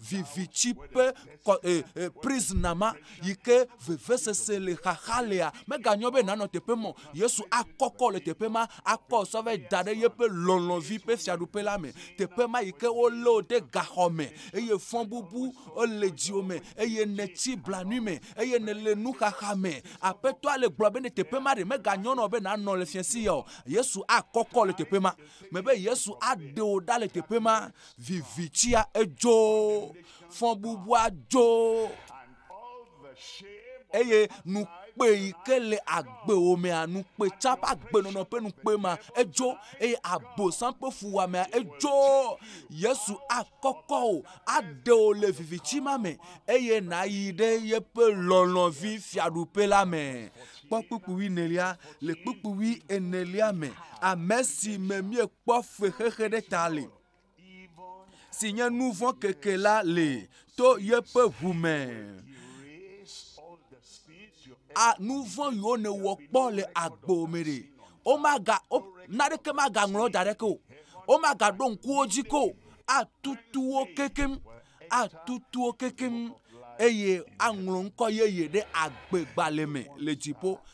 Viviti ƒe kɔ e e prisna ma yi ke vevesese le xaxa lea meganyɔ be nanɔ teƒe mɔ Yesu akɔkɔ le teƒe ma akɔ sɔ vɛ da ɖe yeƒe lɔlɔ̃vi ƒe fiaɖuƒe la me teƒe ma yi ke wolé wo ɖe gaxɔ me eye fɔbubu le dziwò me eye nètsi blanui me eye nèle nuxaxa me aƒetɔa le gblɔ be ne teƒe ma ɖe meganyɔ nɔ be nanɔ le fiase ya o Yesu akɔkɔ le teƒe ma mebe Yesu aɖe wò ɖa le teƒe ma vivitsia edzo fɔbubua dzo eye nukpe yi ke le agbewò mea nukpe tsa ƒe agbenɔnɔ ƒe nukpe ma edzo eye abosam ƒe fuwɔamea edzo yesu akɔkɔ o aɖe o le viviti ma me eye nàyi ɖe yeƒe lɔlɔ̃vi fiaɖuƒe la me kpɔ kpukpuwi nelia le kpukpuwi enelia me ame si me miekpɔ fexexe ɖe ta le si nye nu vɔ̃ keke la li to yeƒe ʋu me. A nu vɔ̃ yiwo nèwɔ kpɔ le agbo me ɖe. Womaga wo naɖeke magaŋlɔ da ɖe ke o. Womagaɖo ŋkuwo dzi ko o. Atutu wo kekeŋ. Atutu wo kekeŋ eye aŋlɔ ŋkɔ yeye ɖe agbegbalẽ me le dziƒo.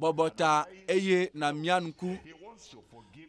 Bɔbɔ ta eye nàmia ŋku.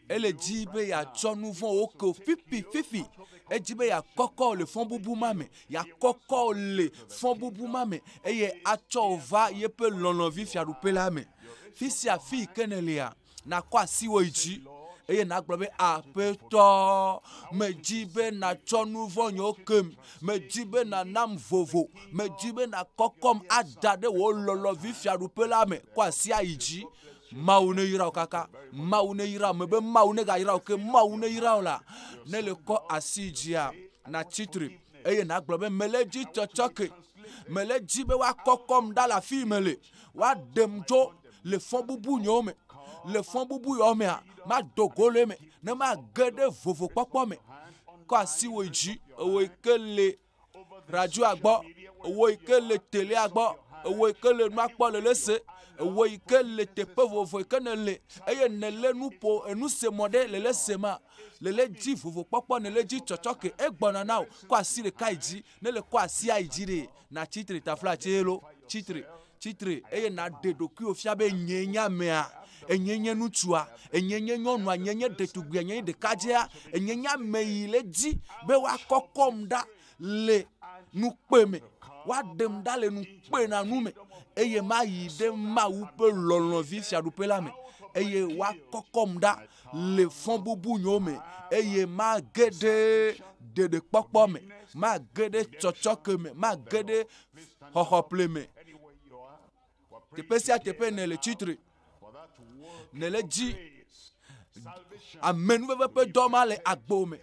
Ele dzi be yeatsɔ nu vɔ̃wo ke wò fifififi. Edzi be yeakɔkɔ wò le fɔbubu ma me, yeakɔkɔ wò le fɔbubu ma me eye atsɔ wò va yeƒe lɔlɔ̃vi fiaɖuƒe la me. Fi sia fi yi ke nèlea, nàkɔ asiwò yi dzi eye nàgblɔ be, Aƒetɔ, medi be nàtsɔ nu vɔ̃ nywo kem. Medi be nànam vovo. Medi be nàkɔkɔm ada ɖe wò lɔlɔ̃vi fiaɖuƒe la me kuasiayi dzi. Mawu neyra wò kaka. Mawu neyra wò. Mebe Mawu negayra wò ke. Mawu neyra wò la. Ne èle kɔ asi yi dzia, nàtsi tre eye nàgblɔ be, Mele edzi tsɔtsɔke. Mele edzi be woakɔkɔm ɖa le afii mele. woaɖem tso le fɔbubu nyewo me. Le fɔbubu yewo mea, mado go le eme ne mage ɖe vovokpɔkpɔ me. Kɔ asi wò dzi, ewò yi ke le radioa gbɔ, ewò yi ke le telea gbɔ, ewò yi ke le nua kpɔ le lese, ewò yi ke le teƒe vovovo yi ke nèle eye nèlé nuƒo enusemɔ ɖe le lese ma, le le dzi vovokpɔkpɔ, le le dzi tsɔtsɔke egbɔna na wò. Kɔ asi ɖeka yi dzi Ne le kɔ asi ayi dzi ɖe, natsi tre tafla tse lo, tsi tre, tsi tre, eye naɖe ɖokuiwò fia be nyee nye amea, enyee nye ŋutsua, enyee nye nyɔnua, nyee nye ɖetugbia, nyee nye ɖekadzea, enyee nye ame yi le edzi be woakɔkɔm ɖa le ŋukpe me, woaɖem ɖa le ŋukpenanu me, eye mayi ɖe Mawu ƒe lɔlɔ̃vi Fiaɖuƒe la me, eye woakɔkɔm ɖa. le fɔbubu nyo me eye mage ɖe ɖeɖekpɔkpɔ me, mage ɖe tsɔtsɔke me, mage ɖe xɔxɔƒle me. Teƒe sia teƒe nèle tsitre, nèle dzi amenuveve ƒe dɔ ma le agbo me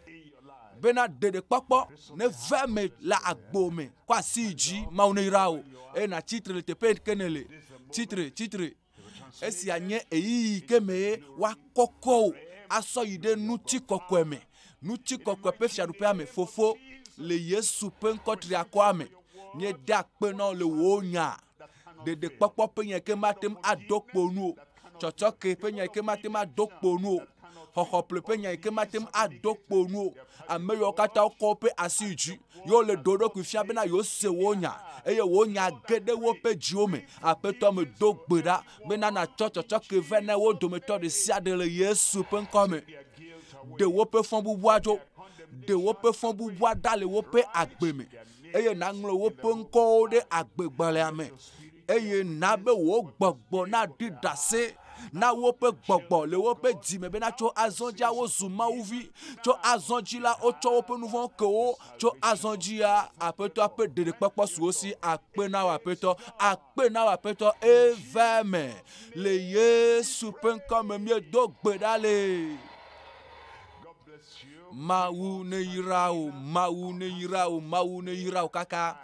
bena ɖeɖekpɔkpɔ neva eme le agbo me. Kɔ asi dzi, Mawu neyra wò eye nàtsi tre le teƒe ke nèle. Tsi tre, tsi tre. Esia nye ɣeyiɣi ke mee woakɔkɔ wò asɔ yi ɖe ŋutikɔkɔe me. Ŋutikɔkɔe ƒe fiaɖuƒea me, Fofo, le Yesu ƒe ŋkɔ triakɔa me, míedea akpe na wò le wò nya, ɖeɖekpɔkpɔ ƒe nya ke mate ŋu aɖo kpo nu o, tsɔtsɔke ƒe nya ke mate ŋu aɖo kpo nu o, xɔxɔple ƒe nya ke mate ŋu aɖo kpo nu o, ame yawo katã wokɔ woƒe asi yi dzi. Yewo le ɖo ɖokui fia bena yewo se wo nya, eye wo nya ge ɖe woƒe dziwo me. Aƒetɔ me do gbe ɖa bena natsɔ tsɔtsɔke vɛ na wo dometɔ ɖe sia ɖe le Yesu ƒe ŋkɔ me. Ɖe woƒe fɔbubua ɖo, ɖe woƒe fɔbubua ɖa le woƒe agbe me, eye naŋlɔ woƒe ŋkɔwo ɖe agbegbalẽa me. eye na be wò gbɔgbɔ naɖi ɖase na woƒe gbɔgbɔ le woƒe dzi me bena tso azɔ dzia wozu mawuvi tso azɔ dzi la wotsɔ woƒe nu vɔ̃ ke wo tso azɔ dzia aƒetɔ ƒe ɖeɖekpɔkpɔ su wo si akpe na wò aƒetɔ akpe na wò aƒetɔ eva me le yesu ƒe ŋkɔ me míedo gbe ɖa le mawu ne yra o mawu ne yra o mawu ne yra o kaka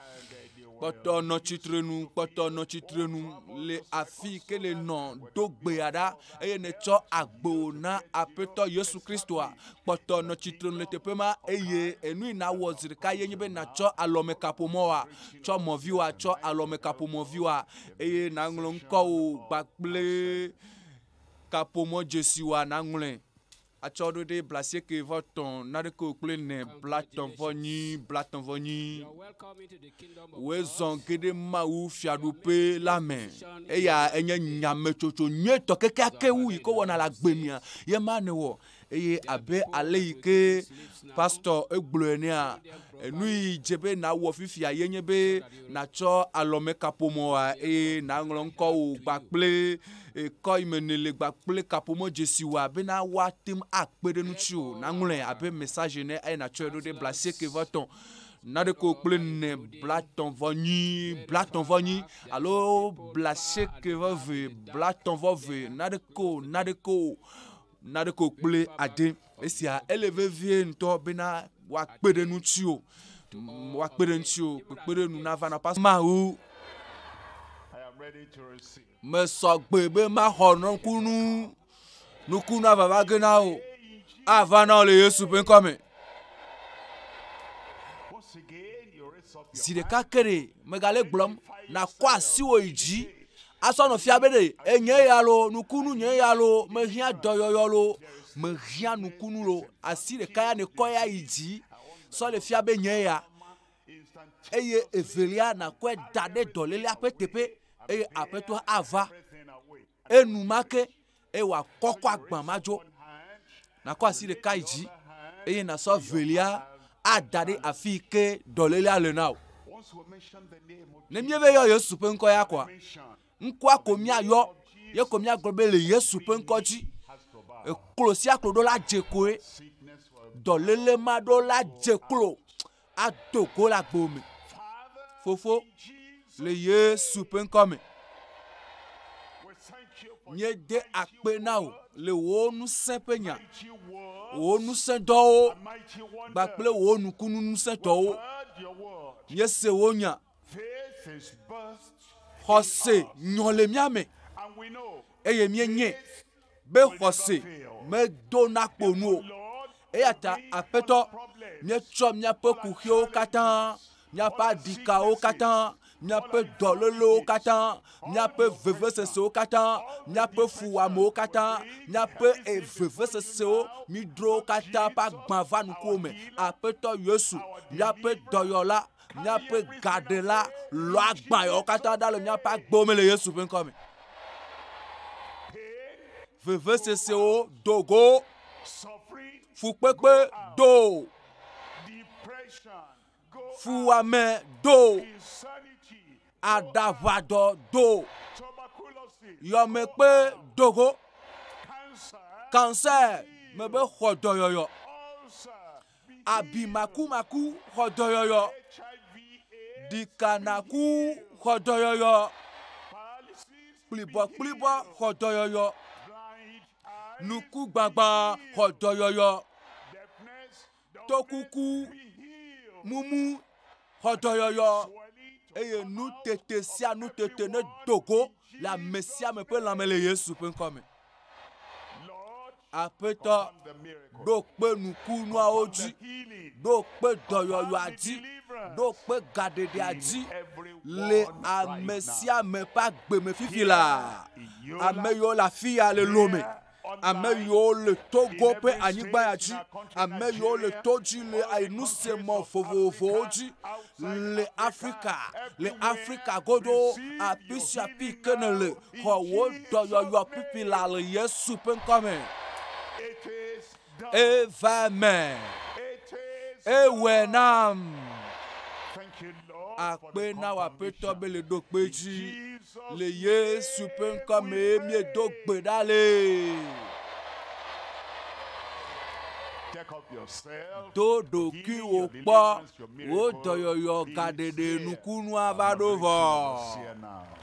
kpɔtɔ nɔ tsitrenu, kpɔtɔ nɔ tsitrenu le afi ke le nɔ do gbea ɖa eye netsɔ agbo na Aƒetɔ Yesu Kristoa. Kpɔtɔ nɔ tsitrenu le teƒe ma eye enu yi nawɔ zi ɖeka ye nye be natsɔ alɔmekaƒomɔa, tsɔ mɔviwa, tsɔ alɔmekaƒomɔviwa eye naŋlɔ ŋkɔwo kpakple kaƒomɔ dzesiwa naŋlɔe. Atsɔɖoɖi blasieke vɔ tɔ naɖeke o kple nɛ blatɔ vɔ nyi blatɔ vɔ nyi. Wòe zɔ geɖe Mawu fiaɖuƒe la me. Eya enye nyametsotso nyuitɔ kekeake wu yi ke wɔna le agbe mea ye ma newɔ. Eye abe ale yi ke pastɔ egblɔe nea, enu yi dze be nawɔ fifia ye nye be natsɔ alɔmekaƒomɔa eye naŋlɔ ŋkɔwò kpakple Ekɔ yi me ne le gba kple kaƒomɔ dzesi wɔa bena woa tem a kpe ɖe nu tsi o, na ŋlɔe abe message ene eye na tsɔe ɖo ɖe bla asieke vɔ etɔ̃ naɖeko kple ne bla tɔ̃ vɔ nyi bla tɔ̃ vɔ nyi alo bla asieke vɔ ve bla tɔ̃ vɔ ve naɖeko naɖeko naɖeko kple ade. Esia ele vevie ŋutɔ bena wɔa kpe ɖe nu tsi o wɔa kpe ɖe nu tsi o kpekpe ɖe nu na va na pas mawu. Mesɔ gbe be maxɔ nukunu, nukunu ava va ge na wò, ava na wò le Yesu ƒe ŋkɔ me. Zi ɖeka ke ɖe megale gblɔm, nakɔ asiwò yi dzi, asɔ nɔ fia be ɖe enye ya lo, nukunu nye ya lo, mehiã dɔyɔyɔ lo, mehiã nukunu lo, asi ɖeka ya nekɔ ya yi dzi sɔ le fia be nye ya. eye evelia nàkɔe da ɖe dɔlélea ƒe teƒe eye aƒetɔa ava enumake eye wòakɔkɔ agbã ma dzo. Nakɔ asi ɖeka yi dzi eye nasɔ evelia ada ɖe afi yi ke dɔlélea le na o. Ne míebe yɔ Yesu ƒe ŋkɔ ya koa, ŋkɔa ko míayɔ ye ko míagblɔ be le Yesu ƒe ŋkɔ dzi eklo sia klo ɖo la dze kloe. Dɔléle ma ɖo la dze klo ado go le agbo me. Fofo, le Yesu ƒe ŋkɔ me, míede akpe na wò le wò ŋusẽ ƒe nya, wò ŋusẽ dɔwo kpakple wò nukunu ŋusẽ dɔwo. Míese wò nya. Xɔse nyɔ le mía me eye míenyae be xɔse medo nakpo nu o. Eya ta Aƒetɔ, míetsɔ míaƒe kuxiwo katã, míaƒe aɖikawo katã, míaƒe dɔlélewo katã, míaƒe vevesesewo katã, míaƒe fuwɔamewo katã, míaƒe eh, vevesesewo, mídro katã ƒe agbã va nukuwo me. Aƒetɔ Yesu, míaƒe dɔyɔla, Míaƒe gaɖela lɔ agbã yawo katã ɖa le míaƒe agbewo me le Yesu ƒe ŋkɔ me. Vevesesewo do go, fukpekpe do, fuwɔame do, aɖaʋadɔ do, yɔmekpe do go, kansɛ mebe xɔdɔyɔyɔ. abi makumaku xɔdɔyɔyɔ, ɖikanaku xɔdɔyɔyɔ, kplibɔkplibɔ xɔdɔyɔyɔ, nukugbagbã xɔdɔyɔyɔ, tɔkuku mumu xɔdɔyɔyɔ, eye nutete sia nutete nedo go le ame sia ame ƒe lãme le Yesu ƒe ŋkɔ me. Aƒetɔ, ɖo kpe nukunuawo dzi, ɖo kpe dɔyɔyɔa dzi, ɖo kpe gaɖeɖea dzi le ame sia ame ƒe agbe me fifi la. Ame yiwo le afi ya le lome, ame yiwo le Togo ƒe anyigba ya dzi, ame yiwo le to dzi le nusemɔ vovovowo dzi le Afrika, le Afrika godo afi sia afi ke nèle. xɔ wò dɔyɔyɔ kpukpui la le Yesu ƒe ŋkɔ me. Eva eme. Ewɔe nam. Akpe na wò aƒetɔ be le ɖo kpe dzi. Le Yesu ƒe ŋkɔ me miedo gbe ɖa le. Do ɖokui wò kpɔ. Wò dɔyɔyɔ gaɖeɖe nukunua va ɖo vɔ.